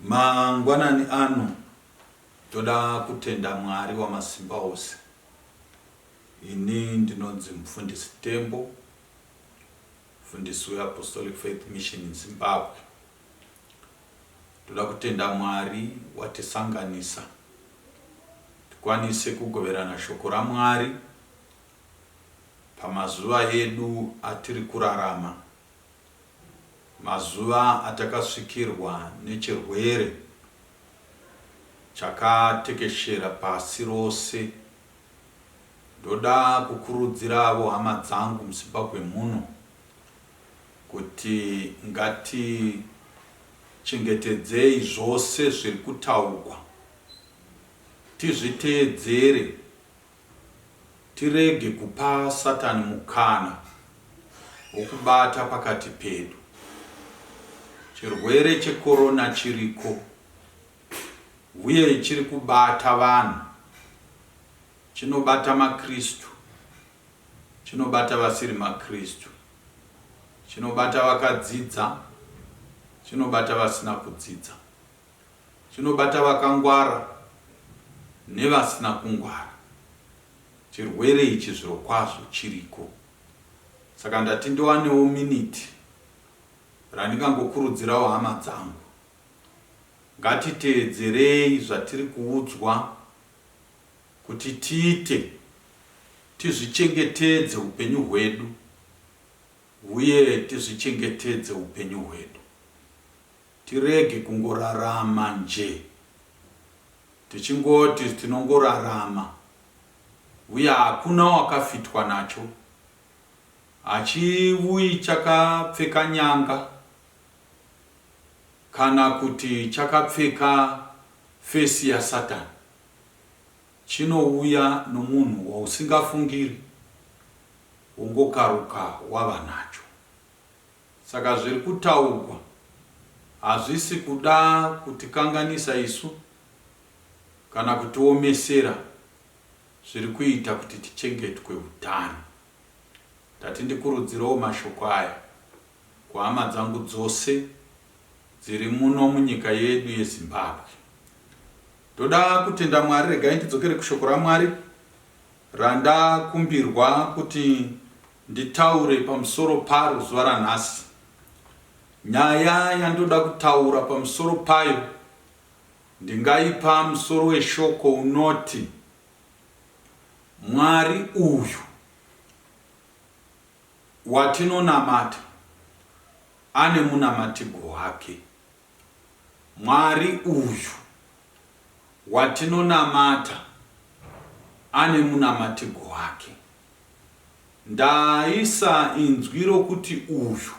Mangwanani ano toda kutenda Mwari wamasimba ose. Ini ndinonzi mufundisi Tembo, mufundisi weApostolic Faith Mission in Zimbabwe. Toda kutenda Mwari watisanganisa tikwanise kugoverana shoko raMwari pamazuva edu atiri kurarama, mazuva atakasvikirwa nechirwere chakatekeshera pasi rose. Ndoda kukurudziravo hama dzangu muZimbabwe muno. kuti ngatichengetedzei zvose zviri kutaugwa, tizviteedzere, tirege kupa Satani mukana wokubata pakati pedu. Chirwere cheCorona chiriko uye chiri kubata vanhu, chinobata maKristu. Chinobata vasiri maKristu. Chinobata vakadzidza. Chinobata vasina kudzidza. Chinobata vakangwara nevasina kungwara. Chirwere ichi zvirokwazvo chiriko. Saka ndati ndiwanewo miniti randingangokurudzirawo hama dzangu. Ngatiteedzerei zvatiri kuudzwa. Kuti tiite, tizvichengetedze upenyu hwedu uye tizvichengetedze upenyu hwedu. Tirege kungorarama nje tichingoti tinongorarama uye hakuna wakafitwa nacho. Hachivuyi chakapfeka nyanga kana kuti chakapfeka fesi yaSatani. chinouya nomunhu wausingafungiri wongokaruka wava nacho. Saka zviri kutaugwa hazvisi kuda kutikanganisa isu kana kutiomesera zviri kuita kuti tichengetwe utano. Ndati ndikurudzirewo mashoko aya kuhama dzangu dzose dziri muno munyika yedu yeZimbabwe. Ndoda kutenda Mwari regai ndidzokere kushoko raMwari randakumbirwa kuti nditaure pamusoro paro zuva ranhasi. Nyaya yandoda kutaura pamusoro payo ndingaipa musoro weshoko unoti Mwari uyu watinonamata ane munamatigwo wake. Mwari uyu watinonamata ane munamatirwo wake. Ndaisa inzwi rokuti uyu,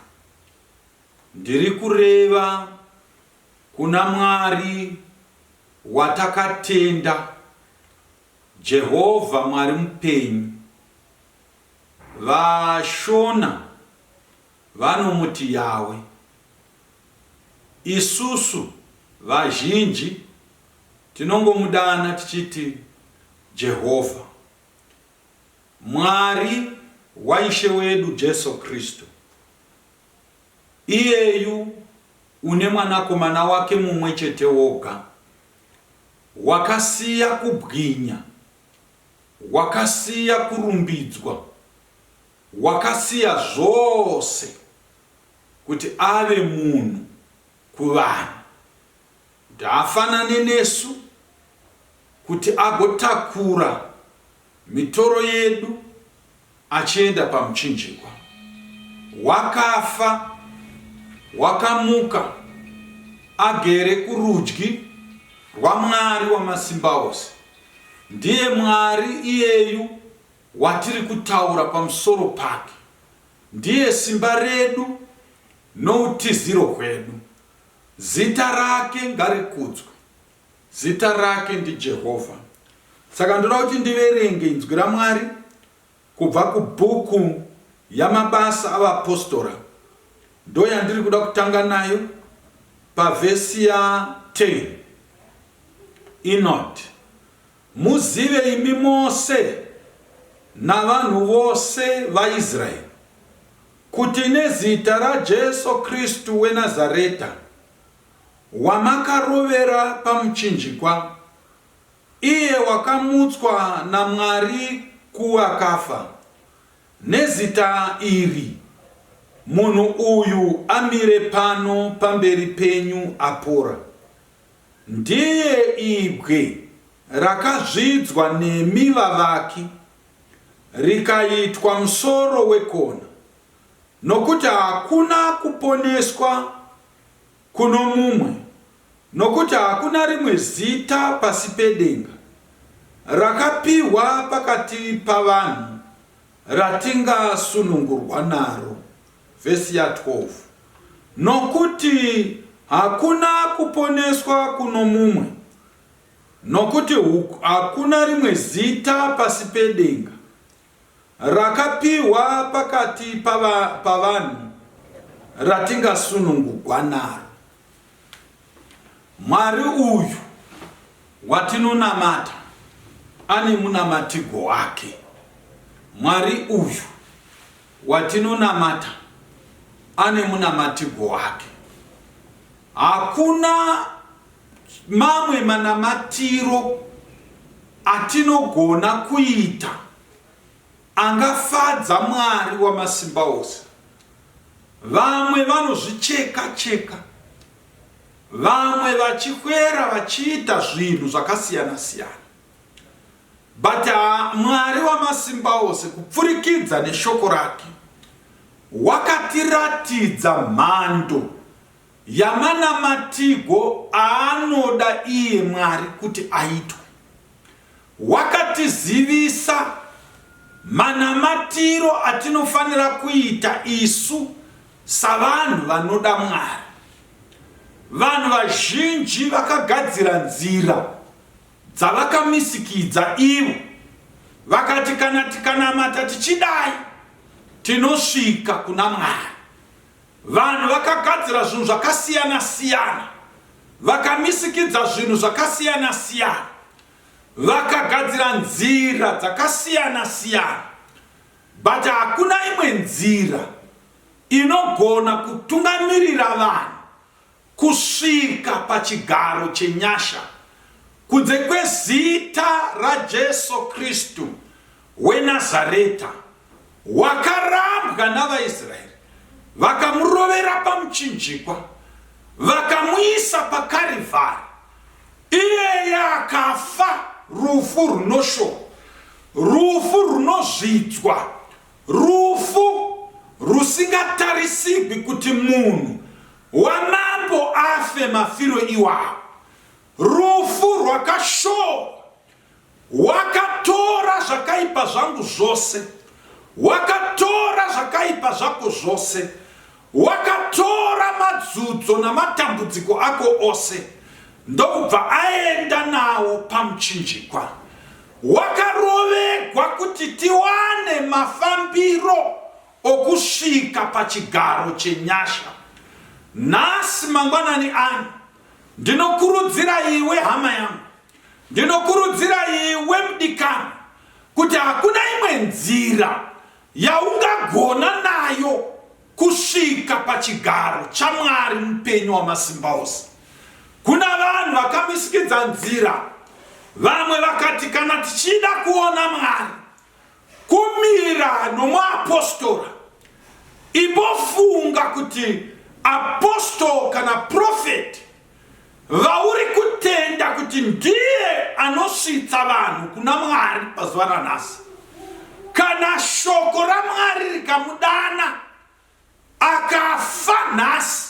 ndiri kureva kuna Mwari watakatenda, Jehovha Mwari mupenyu. VaShona vanomuti Yahwe. Isusu vazhinji tinongomudana tichiti Jehovha, Mwari waIshe wedu Jesu Kristu. Iyeyu une Mwanakomana wake mumwe chete woga, wakasiya kubwinya, wakasiya kurumbidzwa, wakasiya zvose. kuti ave munhu kuvanhu, kuti afanane nesu, kuti agotakura mitoro yedu achienda pamuchinjikwa. Wakafa, wakamuka, agere kurudyi rwaMwari Wamasimbaose. Ndiye Mwari iyeyu watiri kutaura pamusoro pake. Ndiye simba redu noutiziro hwedu. Zita rake ngarikudzwe. Zita rake ndiJehovha. Saka ndoda kuti ndiverenge inzwi raMwari kubva kubhuku yamabasa avapostora. Ndoyandiri kuda kutanga nayo pavhesi ya 10. Inoti. Muzive imi mose navanhu vose vaIsraeri, kuti nezita raJesu Kristu weNazareta, wamakarovera pamuchinjikwa, iye wakamutswa naMwari kuvakafa, nezita iri munhu uyu amire pano pamberi penyu apora. Ndiye ibwe rakazvidzwa nemi vavaki, rikaitwa musoro wekona, nokuti hakuna kuponeswa kuno mumwe, nokuti hakuna rimwe zita pasi pedenga rakapihwa pakati pavanhu ratingasunungurwa naro. Vhesi ya 12 Nokuti hakuna kuponeswa kuno mumwe, nokuti hakuna rimwe zita pasi pedenga rakapihwa pakati pavanhu ratingasunungugwa naro. Mwari uyu watinonamata ane munamatigwo wake. Mwari uyu. Watinonamata ane munamatirwo wake. Hakuna mamwe manamatiro atinogona kuita angafadza Mwari wamasimba ose. Vamwe vanozvicheka cheka, vamwe vachihwera vachiita zvinhu zvakasiyana siyana. But Mwari Wamasimbaose kupfurikidza neshoko rake wakatiratidza mhando yamanamatigo aanoda iye Mwari kuti aitwe. Wakatizivisa manamatiro atinofanira kuita isu savanhu vanoda Mwari. Vanhu vazhinji vakagadzira nzira dzavakamizikidza ivo vakati kana tikanamata tichidai tinosvika kuna Mwari. Vanhu vakagadzira zvinhu zvakasiyana siyana, vakamisikidza zvinhu zvakasiyana siyana, vakagadzira nzira dzakasiyana siyana, but hakuna imwe nzira inogona kutungamirira vanhu kusvika pachigaro chenyasha, kunze kwezita raJesu Kristu weNazareta, wakarambwa navaIsraeri, vakamurovera pamuchinjikwa, vakamuisa paKarivhari, iyeye akafa rufu runoshora, rufu runozvidzwa, rufu rusingatarisigwi kuti munhu Wamambo afe mafiro iwawo. Rufu rwakashorwa. Wakatora zvakaipa zvangu zvose. Wakatora zvakaipa zvako zvose. Wakatora madzudzo namatambudziko ako ose ndokubva aenda nawo pamuchinjikwa. Wakarovegwa kuti tiwane mafambiro okusvika pachigaro chenyasha nhasi mangwanani ano. Ndinokurudzira iwe hama yangu, ndinokurudzira iwe mudikani, kuti hakuna imwe nzira yaungagona nayo kusvika pachigaro chaMwari mupenyu wamasimba ose. Kuna vanhu vakamisikidza nzira, vamwe vakati kana tichida kuona Mwari Kumira nomuapostora. Imbofunga kuti apostle kana prophet vauri kutenda kuti ndiye anosvitsa vanhu kuna Mwari pazuva ranhasi. Kana shoko raMwari rikamudana Akafa nhasi.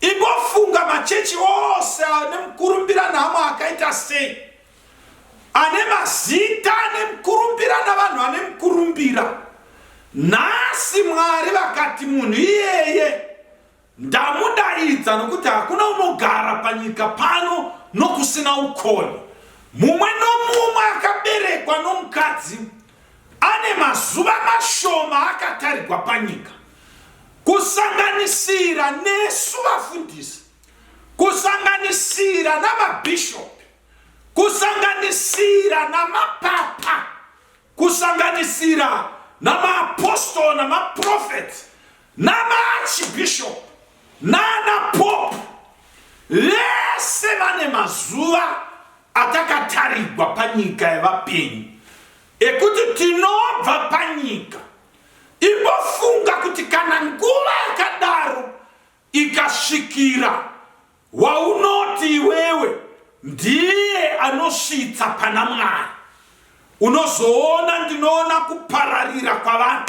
Imbofunga machechi ose ane mukurumbira namo akaita sei? Ane mazita ane mukurumbira navanhu ane mukurumbira. Nhasi Mwari vakati munhu iyeye ndamudaidza nokuti hakuna unogara panyika pano nokusina ukoni. Mumwe nomumwe akaberekwa nomukadzi Ane mazuva mashoma akatarigwa panyika, kusanganisira nesu vafundisi, kusanganisira namabhishopi, kusanganisira namapapa, kusanganisira namaapostle namaprofeti namaarchbishop. Nana Pope vese vane mazuva atakatarigwa panyika yevapenyu ekuti tinobva panyika. Imbofunga kuti kana nguva yakadaro ikasvikira waunoti iwewe ndiye anosvitsa pana Mwari, unozoona ndinoona kupararira kwavanhu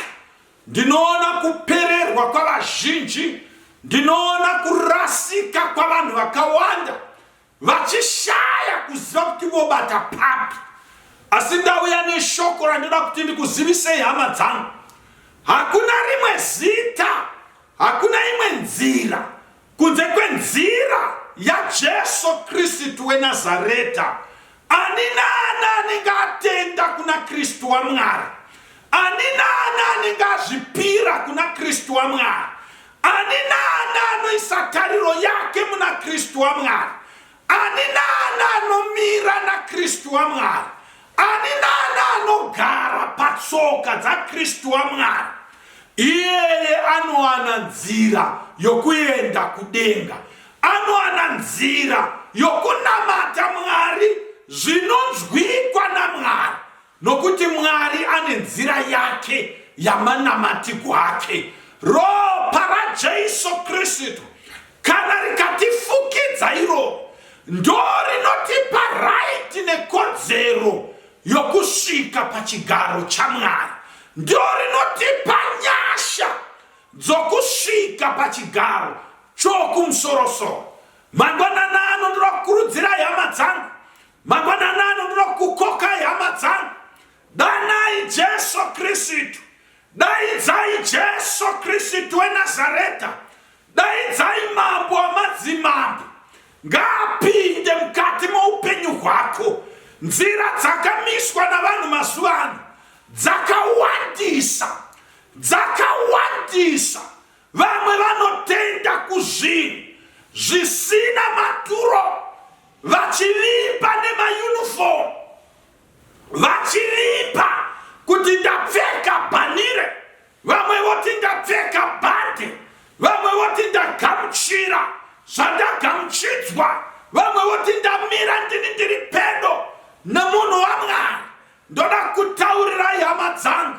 Ndinoona kupererwa kwavazhinji, ndinoona kurasika kwavanhu vakawanda vachishaya kuziva kuti vobata papi. Asi ndauya neshoko randinoda kuti ndikuzivisei hama dzangu. Hakuna rimwe zita, hakuna imwe nzira Kunze kwenzira yaJesu Kristu weNazareta, ani naani anenge atenda kuna Kristu waMwari, ani naani anenge azvipira kuna Kristu waMwari, ani naani anoisa tariro yake muna Kristu waMwari, Ani naani anomira naKristu waMwari, ani naani anogara patsoka dzaKristu waMwari, iyeye anowana nzira yokuenda kudenga, anowana nzira yokunamata Mwari zvinonzwikwa naMwari, Nokuti Mwari ane nzira yake yamanamatigwo ake. Ropa raJesu Kristu kana rikatifukidza iro ndorinotipa raiti nekodzero yokusvika pachigaro chaMwari. Ndorinotipa nyasha dzokusvika pachigaro chokumusoro-soro. Mangwanana ano ndinokurudzira hama dzangu Mangwanana ano ndinokukokai hama dzangu, danai Jesu Kristu, daidzai Jesu Kristu weNazareta, daidzai mambo wamadzimambo, ngaapinde mukati moupenyu hwako. Nzira dzakamiswa navanhu mazuva ano dzakawandisa, dzakawandisa Vamwe vanotenda kuzvinhu zvisina maturo vachiripa nemayunifomu vachiripa kuti ndapfeka bhanire vamwe voti ndapfeka bhande vamwe voti ndagamuchira zvandagamuchidzwa vamwe voti ndamira ndini ndiri pedo nemunhu wamwari Ndoda kutaurirai hama dzangu,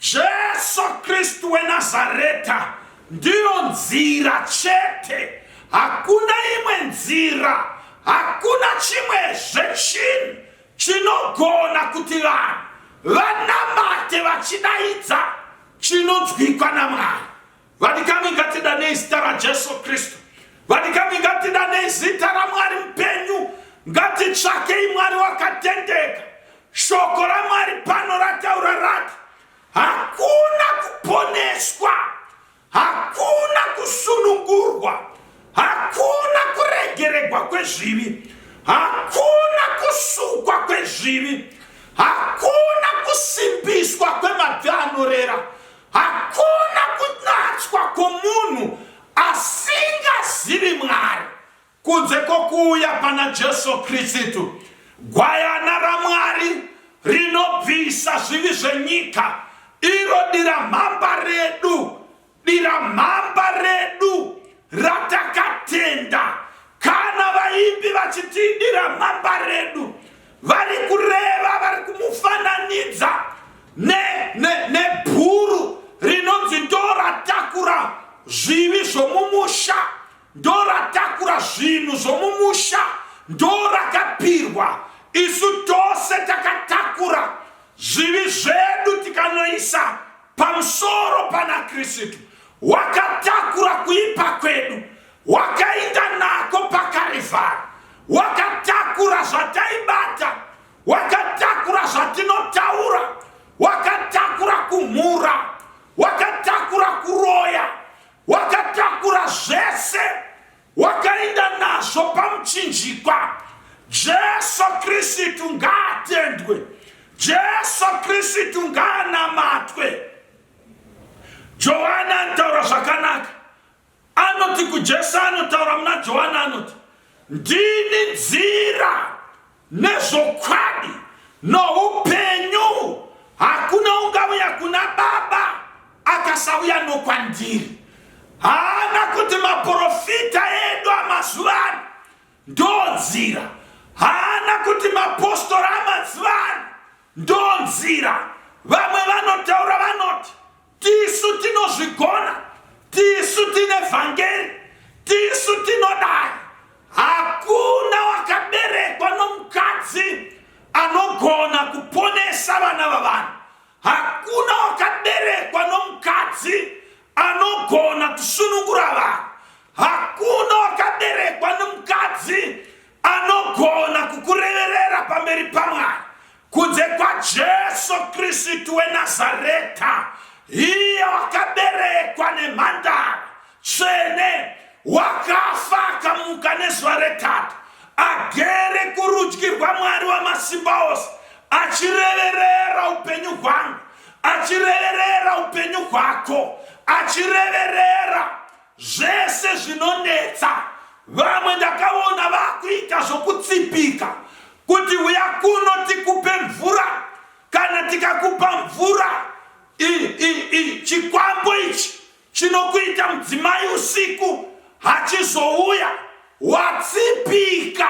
Jesu Kristu weNazareta ndiyo nzira chete, hakuna imwe nzira, hakuna chimwe zvechinhu chinogona kuti vanhu vanamate vachidaidza chinonzwikwa naMwari. Vadikani ngatidanei zita raJesu Kristu. Vadikani ngatidanei zita raMwari mupenyu. Ngatitsvakei Mwari wakatendeka. Shoko raMwari pano rataura rati hakuna kuponeswa, hakuna kusunungurwa, hakuna kuregeregwa kwezvivi, hakuna kusukwa kwezvivi, hakuna kusimbiswa kwemabvi anorera Hakuna kunatswa kwomunhu asingazivi Mwari kunze kwokuuya pana Jesu Kristu, gwayana raMwari rinobvisa zvivi zvenyika, iro diramhamba redu, diramhamba redu ratakatenda. Kana vaimbi vachiti diramhamba redu, vari kureva vari kumufananidza nebhuru ne, ne rinonzi ndoratakura zvivi zvomumusha ndoratakura zvinhu zvomumusha ndorakapirwa isu tose takatakura zvivi zvedu tikanoisa pamusoro pana kristu wakatakura kuipa kwedu wakainda nako pakarivhara wakatakura zvataibata wakatakura zvatinotaura wakatakura kumhura wakatakura kuroya wakatakura zvese wakainda nazvo pamuchinjikwa jesu kristu ngaatendwe jesu kristu ngaanamatwe johani anotaura zvakanaka Anoti kuJesu anotaura muna Johani anoti, Ndini nzira nezvokwadi noupenyu, hakuna ungauya kuna Baba akasauya nokwandiri. Haana kuti maprofita edu amazuva ano ndonzira, haana kuti mapostora amazuva ano ndonzira. Vamwe vanotaura vanoti Tisu tinozvigona, tisu tine vhangeri, tisu tinodai. Hakuna wakaberekwa nomukadzi anogona kuponesa vana vavanhu. Hakuna wakaberekwa nomukadzi anogona kusunungura vanhu. Hakuna wakaberekwa nomukadzi anogona kukureverera pamberi pamwana. Kunze kwaJesu Kristu weNazareta, iye wakaberekwa nemhandara tsvene, wakafa akamuka nezuva retatu, agere kurudyi rwaMwari wamasimba ose, achireverera upenyu hwangu, achireverera upenyu hwako, achireverera zvese zvinonetsa vamwe ndakaona vakuita zvokutsipika kuti uya kuno tikupe mvura kana tikakupa mvura chikwambo ichi chinokuita mudzimai usiku hachizouya watsipika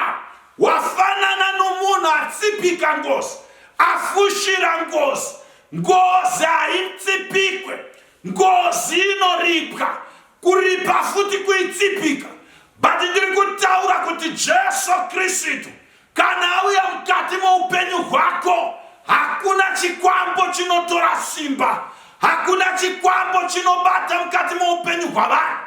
wafanana nomunhu atsipika ngozi afushira ngozi ngozi haitsipikwe Ngozi inoripwa, kuripa futi kuitsipika. But ndiri kutaura kuti Jesu Kristu kana auya mukati moupenyu hwako, hakuna chikwambo chinotora simba, hakuna chikwambo chinobata mukati moupenyu hwavanhu,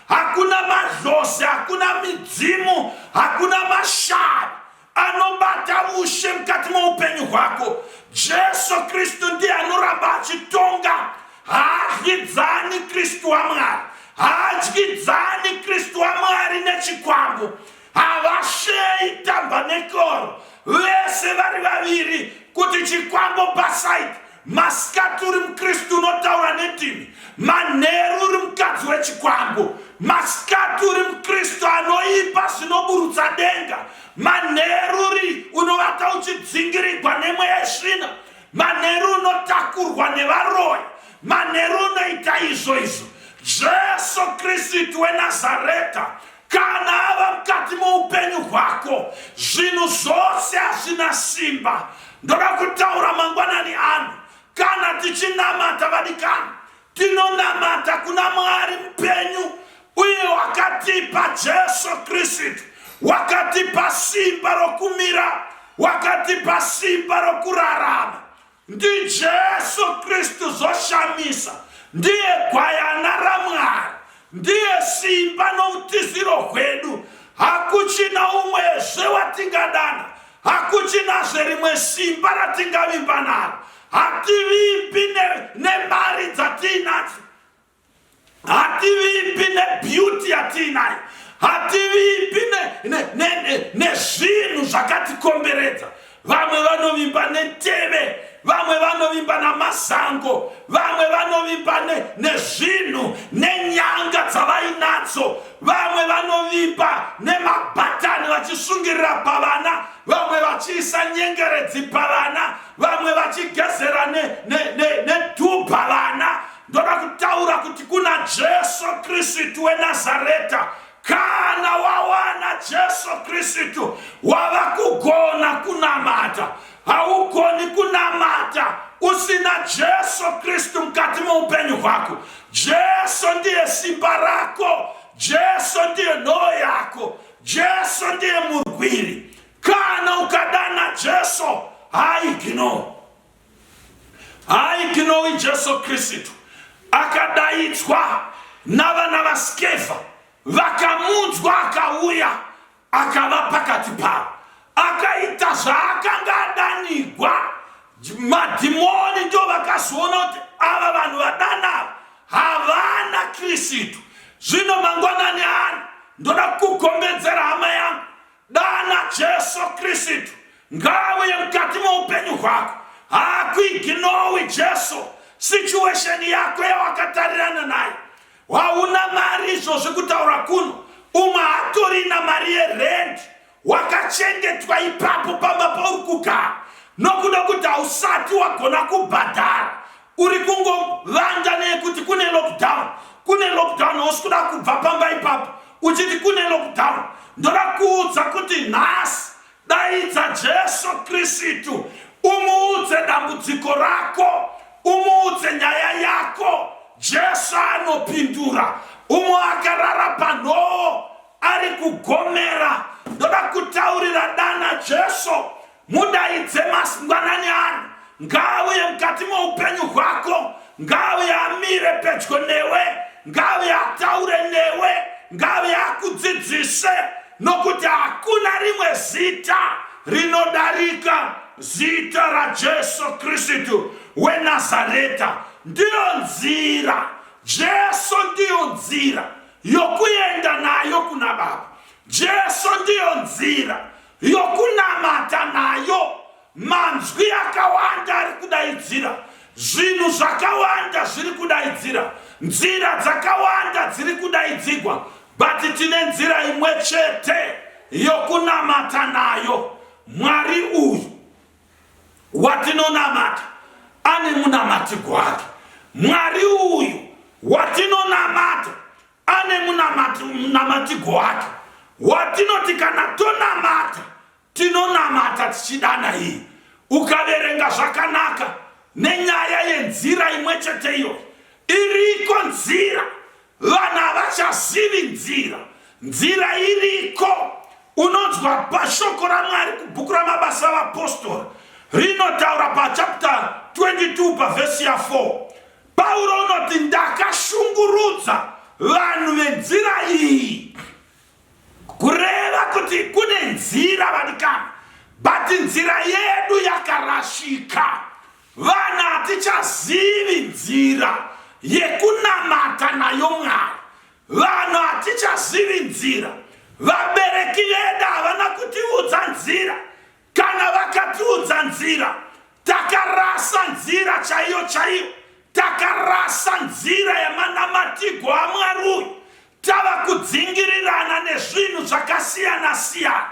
hakuna madlozi, hakuna midzimu, hakuna mashari anobata ushe mukati meupenyu hwako jesu kristu ndiye anoramba achitonga haadyidzani kristu wamwari haadyidzani kristu wamwari nechikwambo havasheyi tambanekoro vese vari vaviri kuti chikwambo pasaidi Masikati uri mukristu unotaura nedini, manheru uri mukadzi wechikwambo. Masikati uri mukristu anoipa zvinoburutsa denga, manheru uri unovata uchidzingirigwa nemweya yesvina, manheru unotakurwa nevaroyi, manheru unoita izvo izvo. Jesu Kristu weNazareta Kana ava mukati moupenyu hwako, zvinhu zvose hazvina simba. Ndoda kutaura mangwanani ano, kana tichinamata vadikani, tinonamata kuna Mwari mupenyu uye wakatipa Jesu Kristu, wakatipa simba rokumira, wakatipa simba rokurarama. NdiJesu Kristu zvoshamisa, ndiye gwayana raMwari, ndiye simba noutiziro hwedu. Hakuchina umwezve watingadana, hakuchinazve rimwe simba ratingavimba naro. Hativimbi nemari dzatiinadzo, hativimbi nebeauty yatiinayo hativimbi nezvinhu zvakatikomberedza vamwe vanovimba neteve vamwe vanovimba namasango vamwe vanovimba nezvinhu nenyanga dzavainadzo vamwe vanovimba nemabhatani vachisungirira pavana vamwe vachiisa nyengeredzi pavana vamwe vachigezera nedhubha vana Ndoda kutaura kuti kuna Jesu Kristu weNazareta, kana wawana Jesu Kristu wava kugona kunamata. Haugoni kunamata usina Jesu Kristu mukati meupenyu hwako. Jesu ndiye simba rako, Jesu ndiye nhoo yako, Jesu ndiye murwiri. Kana ukadana Jesu, haigino. Hai tinowi Jesu Kristu akadaidzwa navana vaSkeva vakamunzwa akauya akava pakati pavo akaita zvaakanga adanigwa madhimoni ndio vakazoona kuti ava vanhu vadana havana Kristu zvino mangwanani ano ndoda kukugombedzera hama yangu Dana Jesu Kristu ngauye mukati moupenyu hwako. Hakuiginowi Jesu situation yako yawakatarirana naye. Hauna mari izvozvi kutaura kuno. Umwe hatorina mari yerent wakachengetwa ipapo pamba pauri kugara nokuda kuti hausati wagona kubhadhara Uri kungovanda nekuti kune lockdown, kune lockdown usikuda kubva pamba ipapo uchiti kune lockdown. Ndoda kuudza kuti nhasi daidza Jesu Kristu umuudze dambudziko rako, umuudze nyaya yako. Jesu anopindura. Umwe akarara panhoo ari kugomera. Ndoda kutaurira dana Jesu Mudaidze masingwanani ano, ngaauye mukati moupenyu hwako, ngaauye amire pedyo newe, ngaauye ataure newe, ngaauye akudzidzise, nokuti hakuna rimwe zita rinodarika zita raJesu Kristu weNazareta. Ndiyo nzira, Jesu ndiyo nzira yokuenda nayo kuna Baba. Jesu ndiyo nzira yokunamata nayo manzwi akawanda ari kudaidzira zvinhu zvakawanda zviri kudaidzira nzira dzakawanda dziri kudaidzigwa but tine nzira imwe chete yokunamata nayo mwari uyu watinonamata ane munamatigwo ake mwari uyu watinonamata ane munamatigo wake watinoti kana tonamata tinonamata tichidana iyi ukaverenga zvakanaka nenyaya yenzira imwe chete iyo iriko nzira vanhu havachazivi nzira nzira iriko unonzwa pashoko ramwari kubhuku ramabasa avapostori rinotaura pachapta 22 pavhesi ya 4 Pauro unoti ndakashungurudza vanhu venzira iyi kureva kuti kune nzira vadikana but nzira yedu yakarashika vana hatichazivi nzira yekunamata nayo mwari vanhu hatichazivi nzira vabereki vedu havana kutiudza nzira Kana vakatiudza nzira, takarasa nzira chaiyo chaiyo, takarasa nzira yemanamatigwo aMwari uyu, tava kudzingirirana nezvinhu zvakasiyana siyana,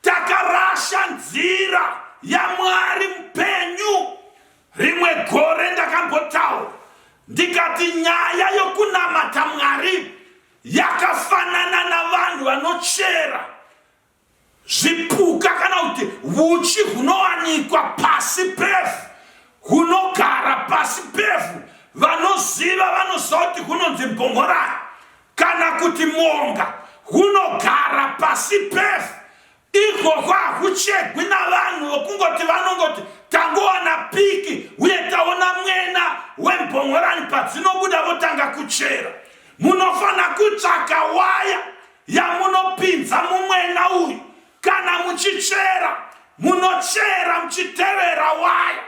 takarasha nzira yaMwari mupenyu. Rimwe gore ndakambotaura ndikati nyaya yokunamata Mwari yakafanana navanhu vanochera Zvipuka kana kuti huchi hunowanikwa pasi pevhu hunogara pasi pevhu. Vanoziva vanoziva kuti hunonzi mbongorani kana kuti monga hunogara pasi pevhu. Ikoko hakuchegwi navanhu vokungoti vanongoti tangowana piki uye taona mwena wembongorani padzinobuda votanga kuchera. Munofanira kutsvaka waya yamunopinza mumwena uyu kana muchichera munochera muchitevera waya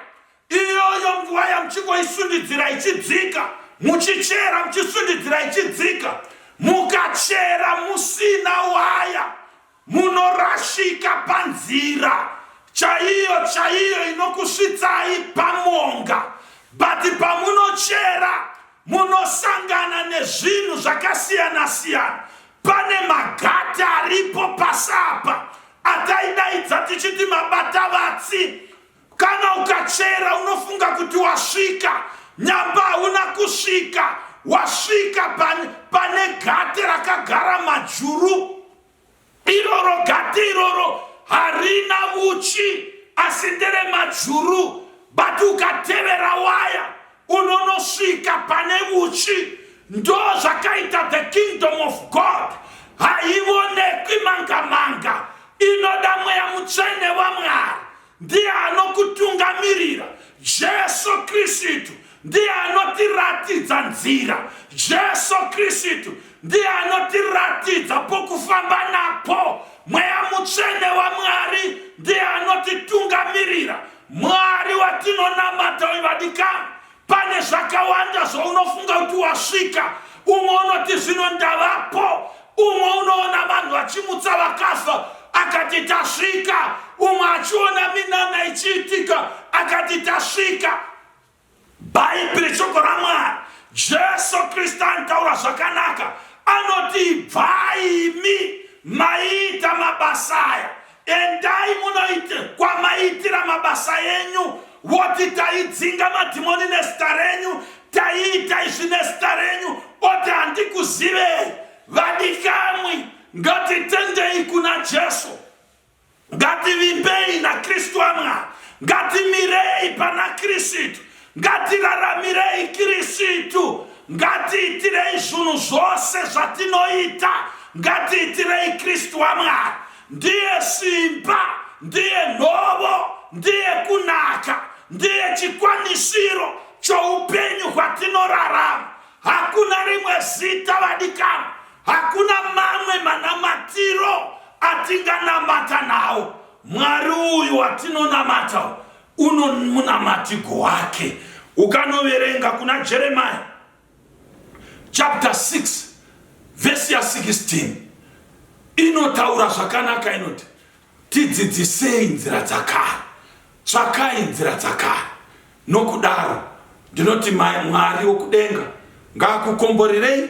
iyoyo nguva yamuchingoisundidzira ichidzika muchichera muchisundidzira ichidzika mukachera musina waya munorashika panzira chaiyo chaiyo inokusvitsai pamwonga but pamunochera Munosangana nezvinhu zvakasiyana siyana. Pane magata aripo pasi apa ataidaidza tichiti mabata vatsi. Kana ukachera unofunga kuti wasvika, nyamba hauna kusvika, wasvika pane, pane gate rakagara majuru. Iroro gate iroro harina uchi asi ndere majuru but ukatevera waya unonosvika pane uchi ndo zvakaita the kingdom of god haivonekwi manga manga inoda mweya mutsvene wamwari Ndiye anokutungamirira, Jesu Kristu ndiye anotiratidza nzira, Jesu Kristu ndiye anotiratidza pokufamba napo, Mweya Mutsvene waMwari ndiye anotitungamirira. Mwari watinonamata uyu vadikani, Pane zvakawanda zvaunofunga kuti wasvika, umwe unoti zvino ndavapo, umwe unoona vanhu vachimutsa vakafa akati tasvika, umwe achiona minana ichiitika akati tasvika. Bhaibheri shoko raMwari, Jesu Kristu anotaura zvakanaka, anoti ibvai imi maiita mabasa aya Endai munoite kwamaitira mabasa enyu, woti taidzinga madhimoni nezita renyu, taiita izvi nezita renyu, oti handikuzivei. Vadikamwi, ngatitendei kuna Jesu, ngativimbei naKristu waMwari, ngatimirei pana Kristu, Ngatiraramirei Kirisitu, ngatiitirei zvunhu zvose zvatinoita, ngatiitirei Kristu waMwari. Ndiye simba, ndiye nhovo, ndiye kunaka, ndiye chikwanisiro choupenyu hwatinorarama. Hakuna rimwe zita vadikana, hakuna mamwe manamatiro atinganamata nawo. Mwari uyu watinonamata Uno munamatigwo wake ukanoverenga kuna Jeremiah chapter 6 verse ya 16 inotaura zvakanaka inoti tidzidzisei nzira dzakare tsvakai nzira dzakare nokudaro ndinoti mwari wokudenga ngaakukomborerei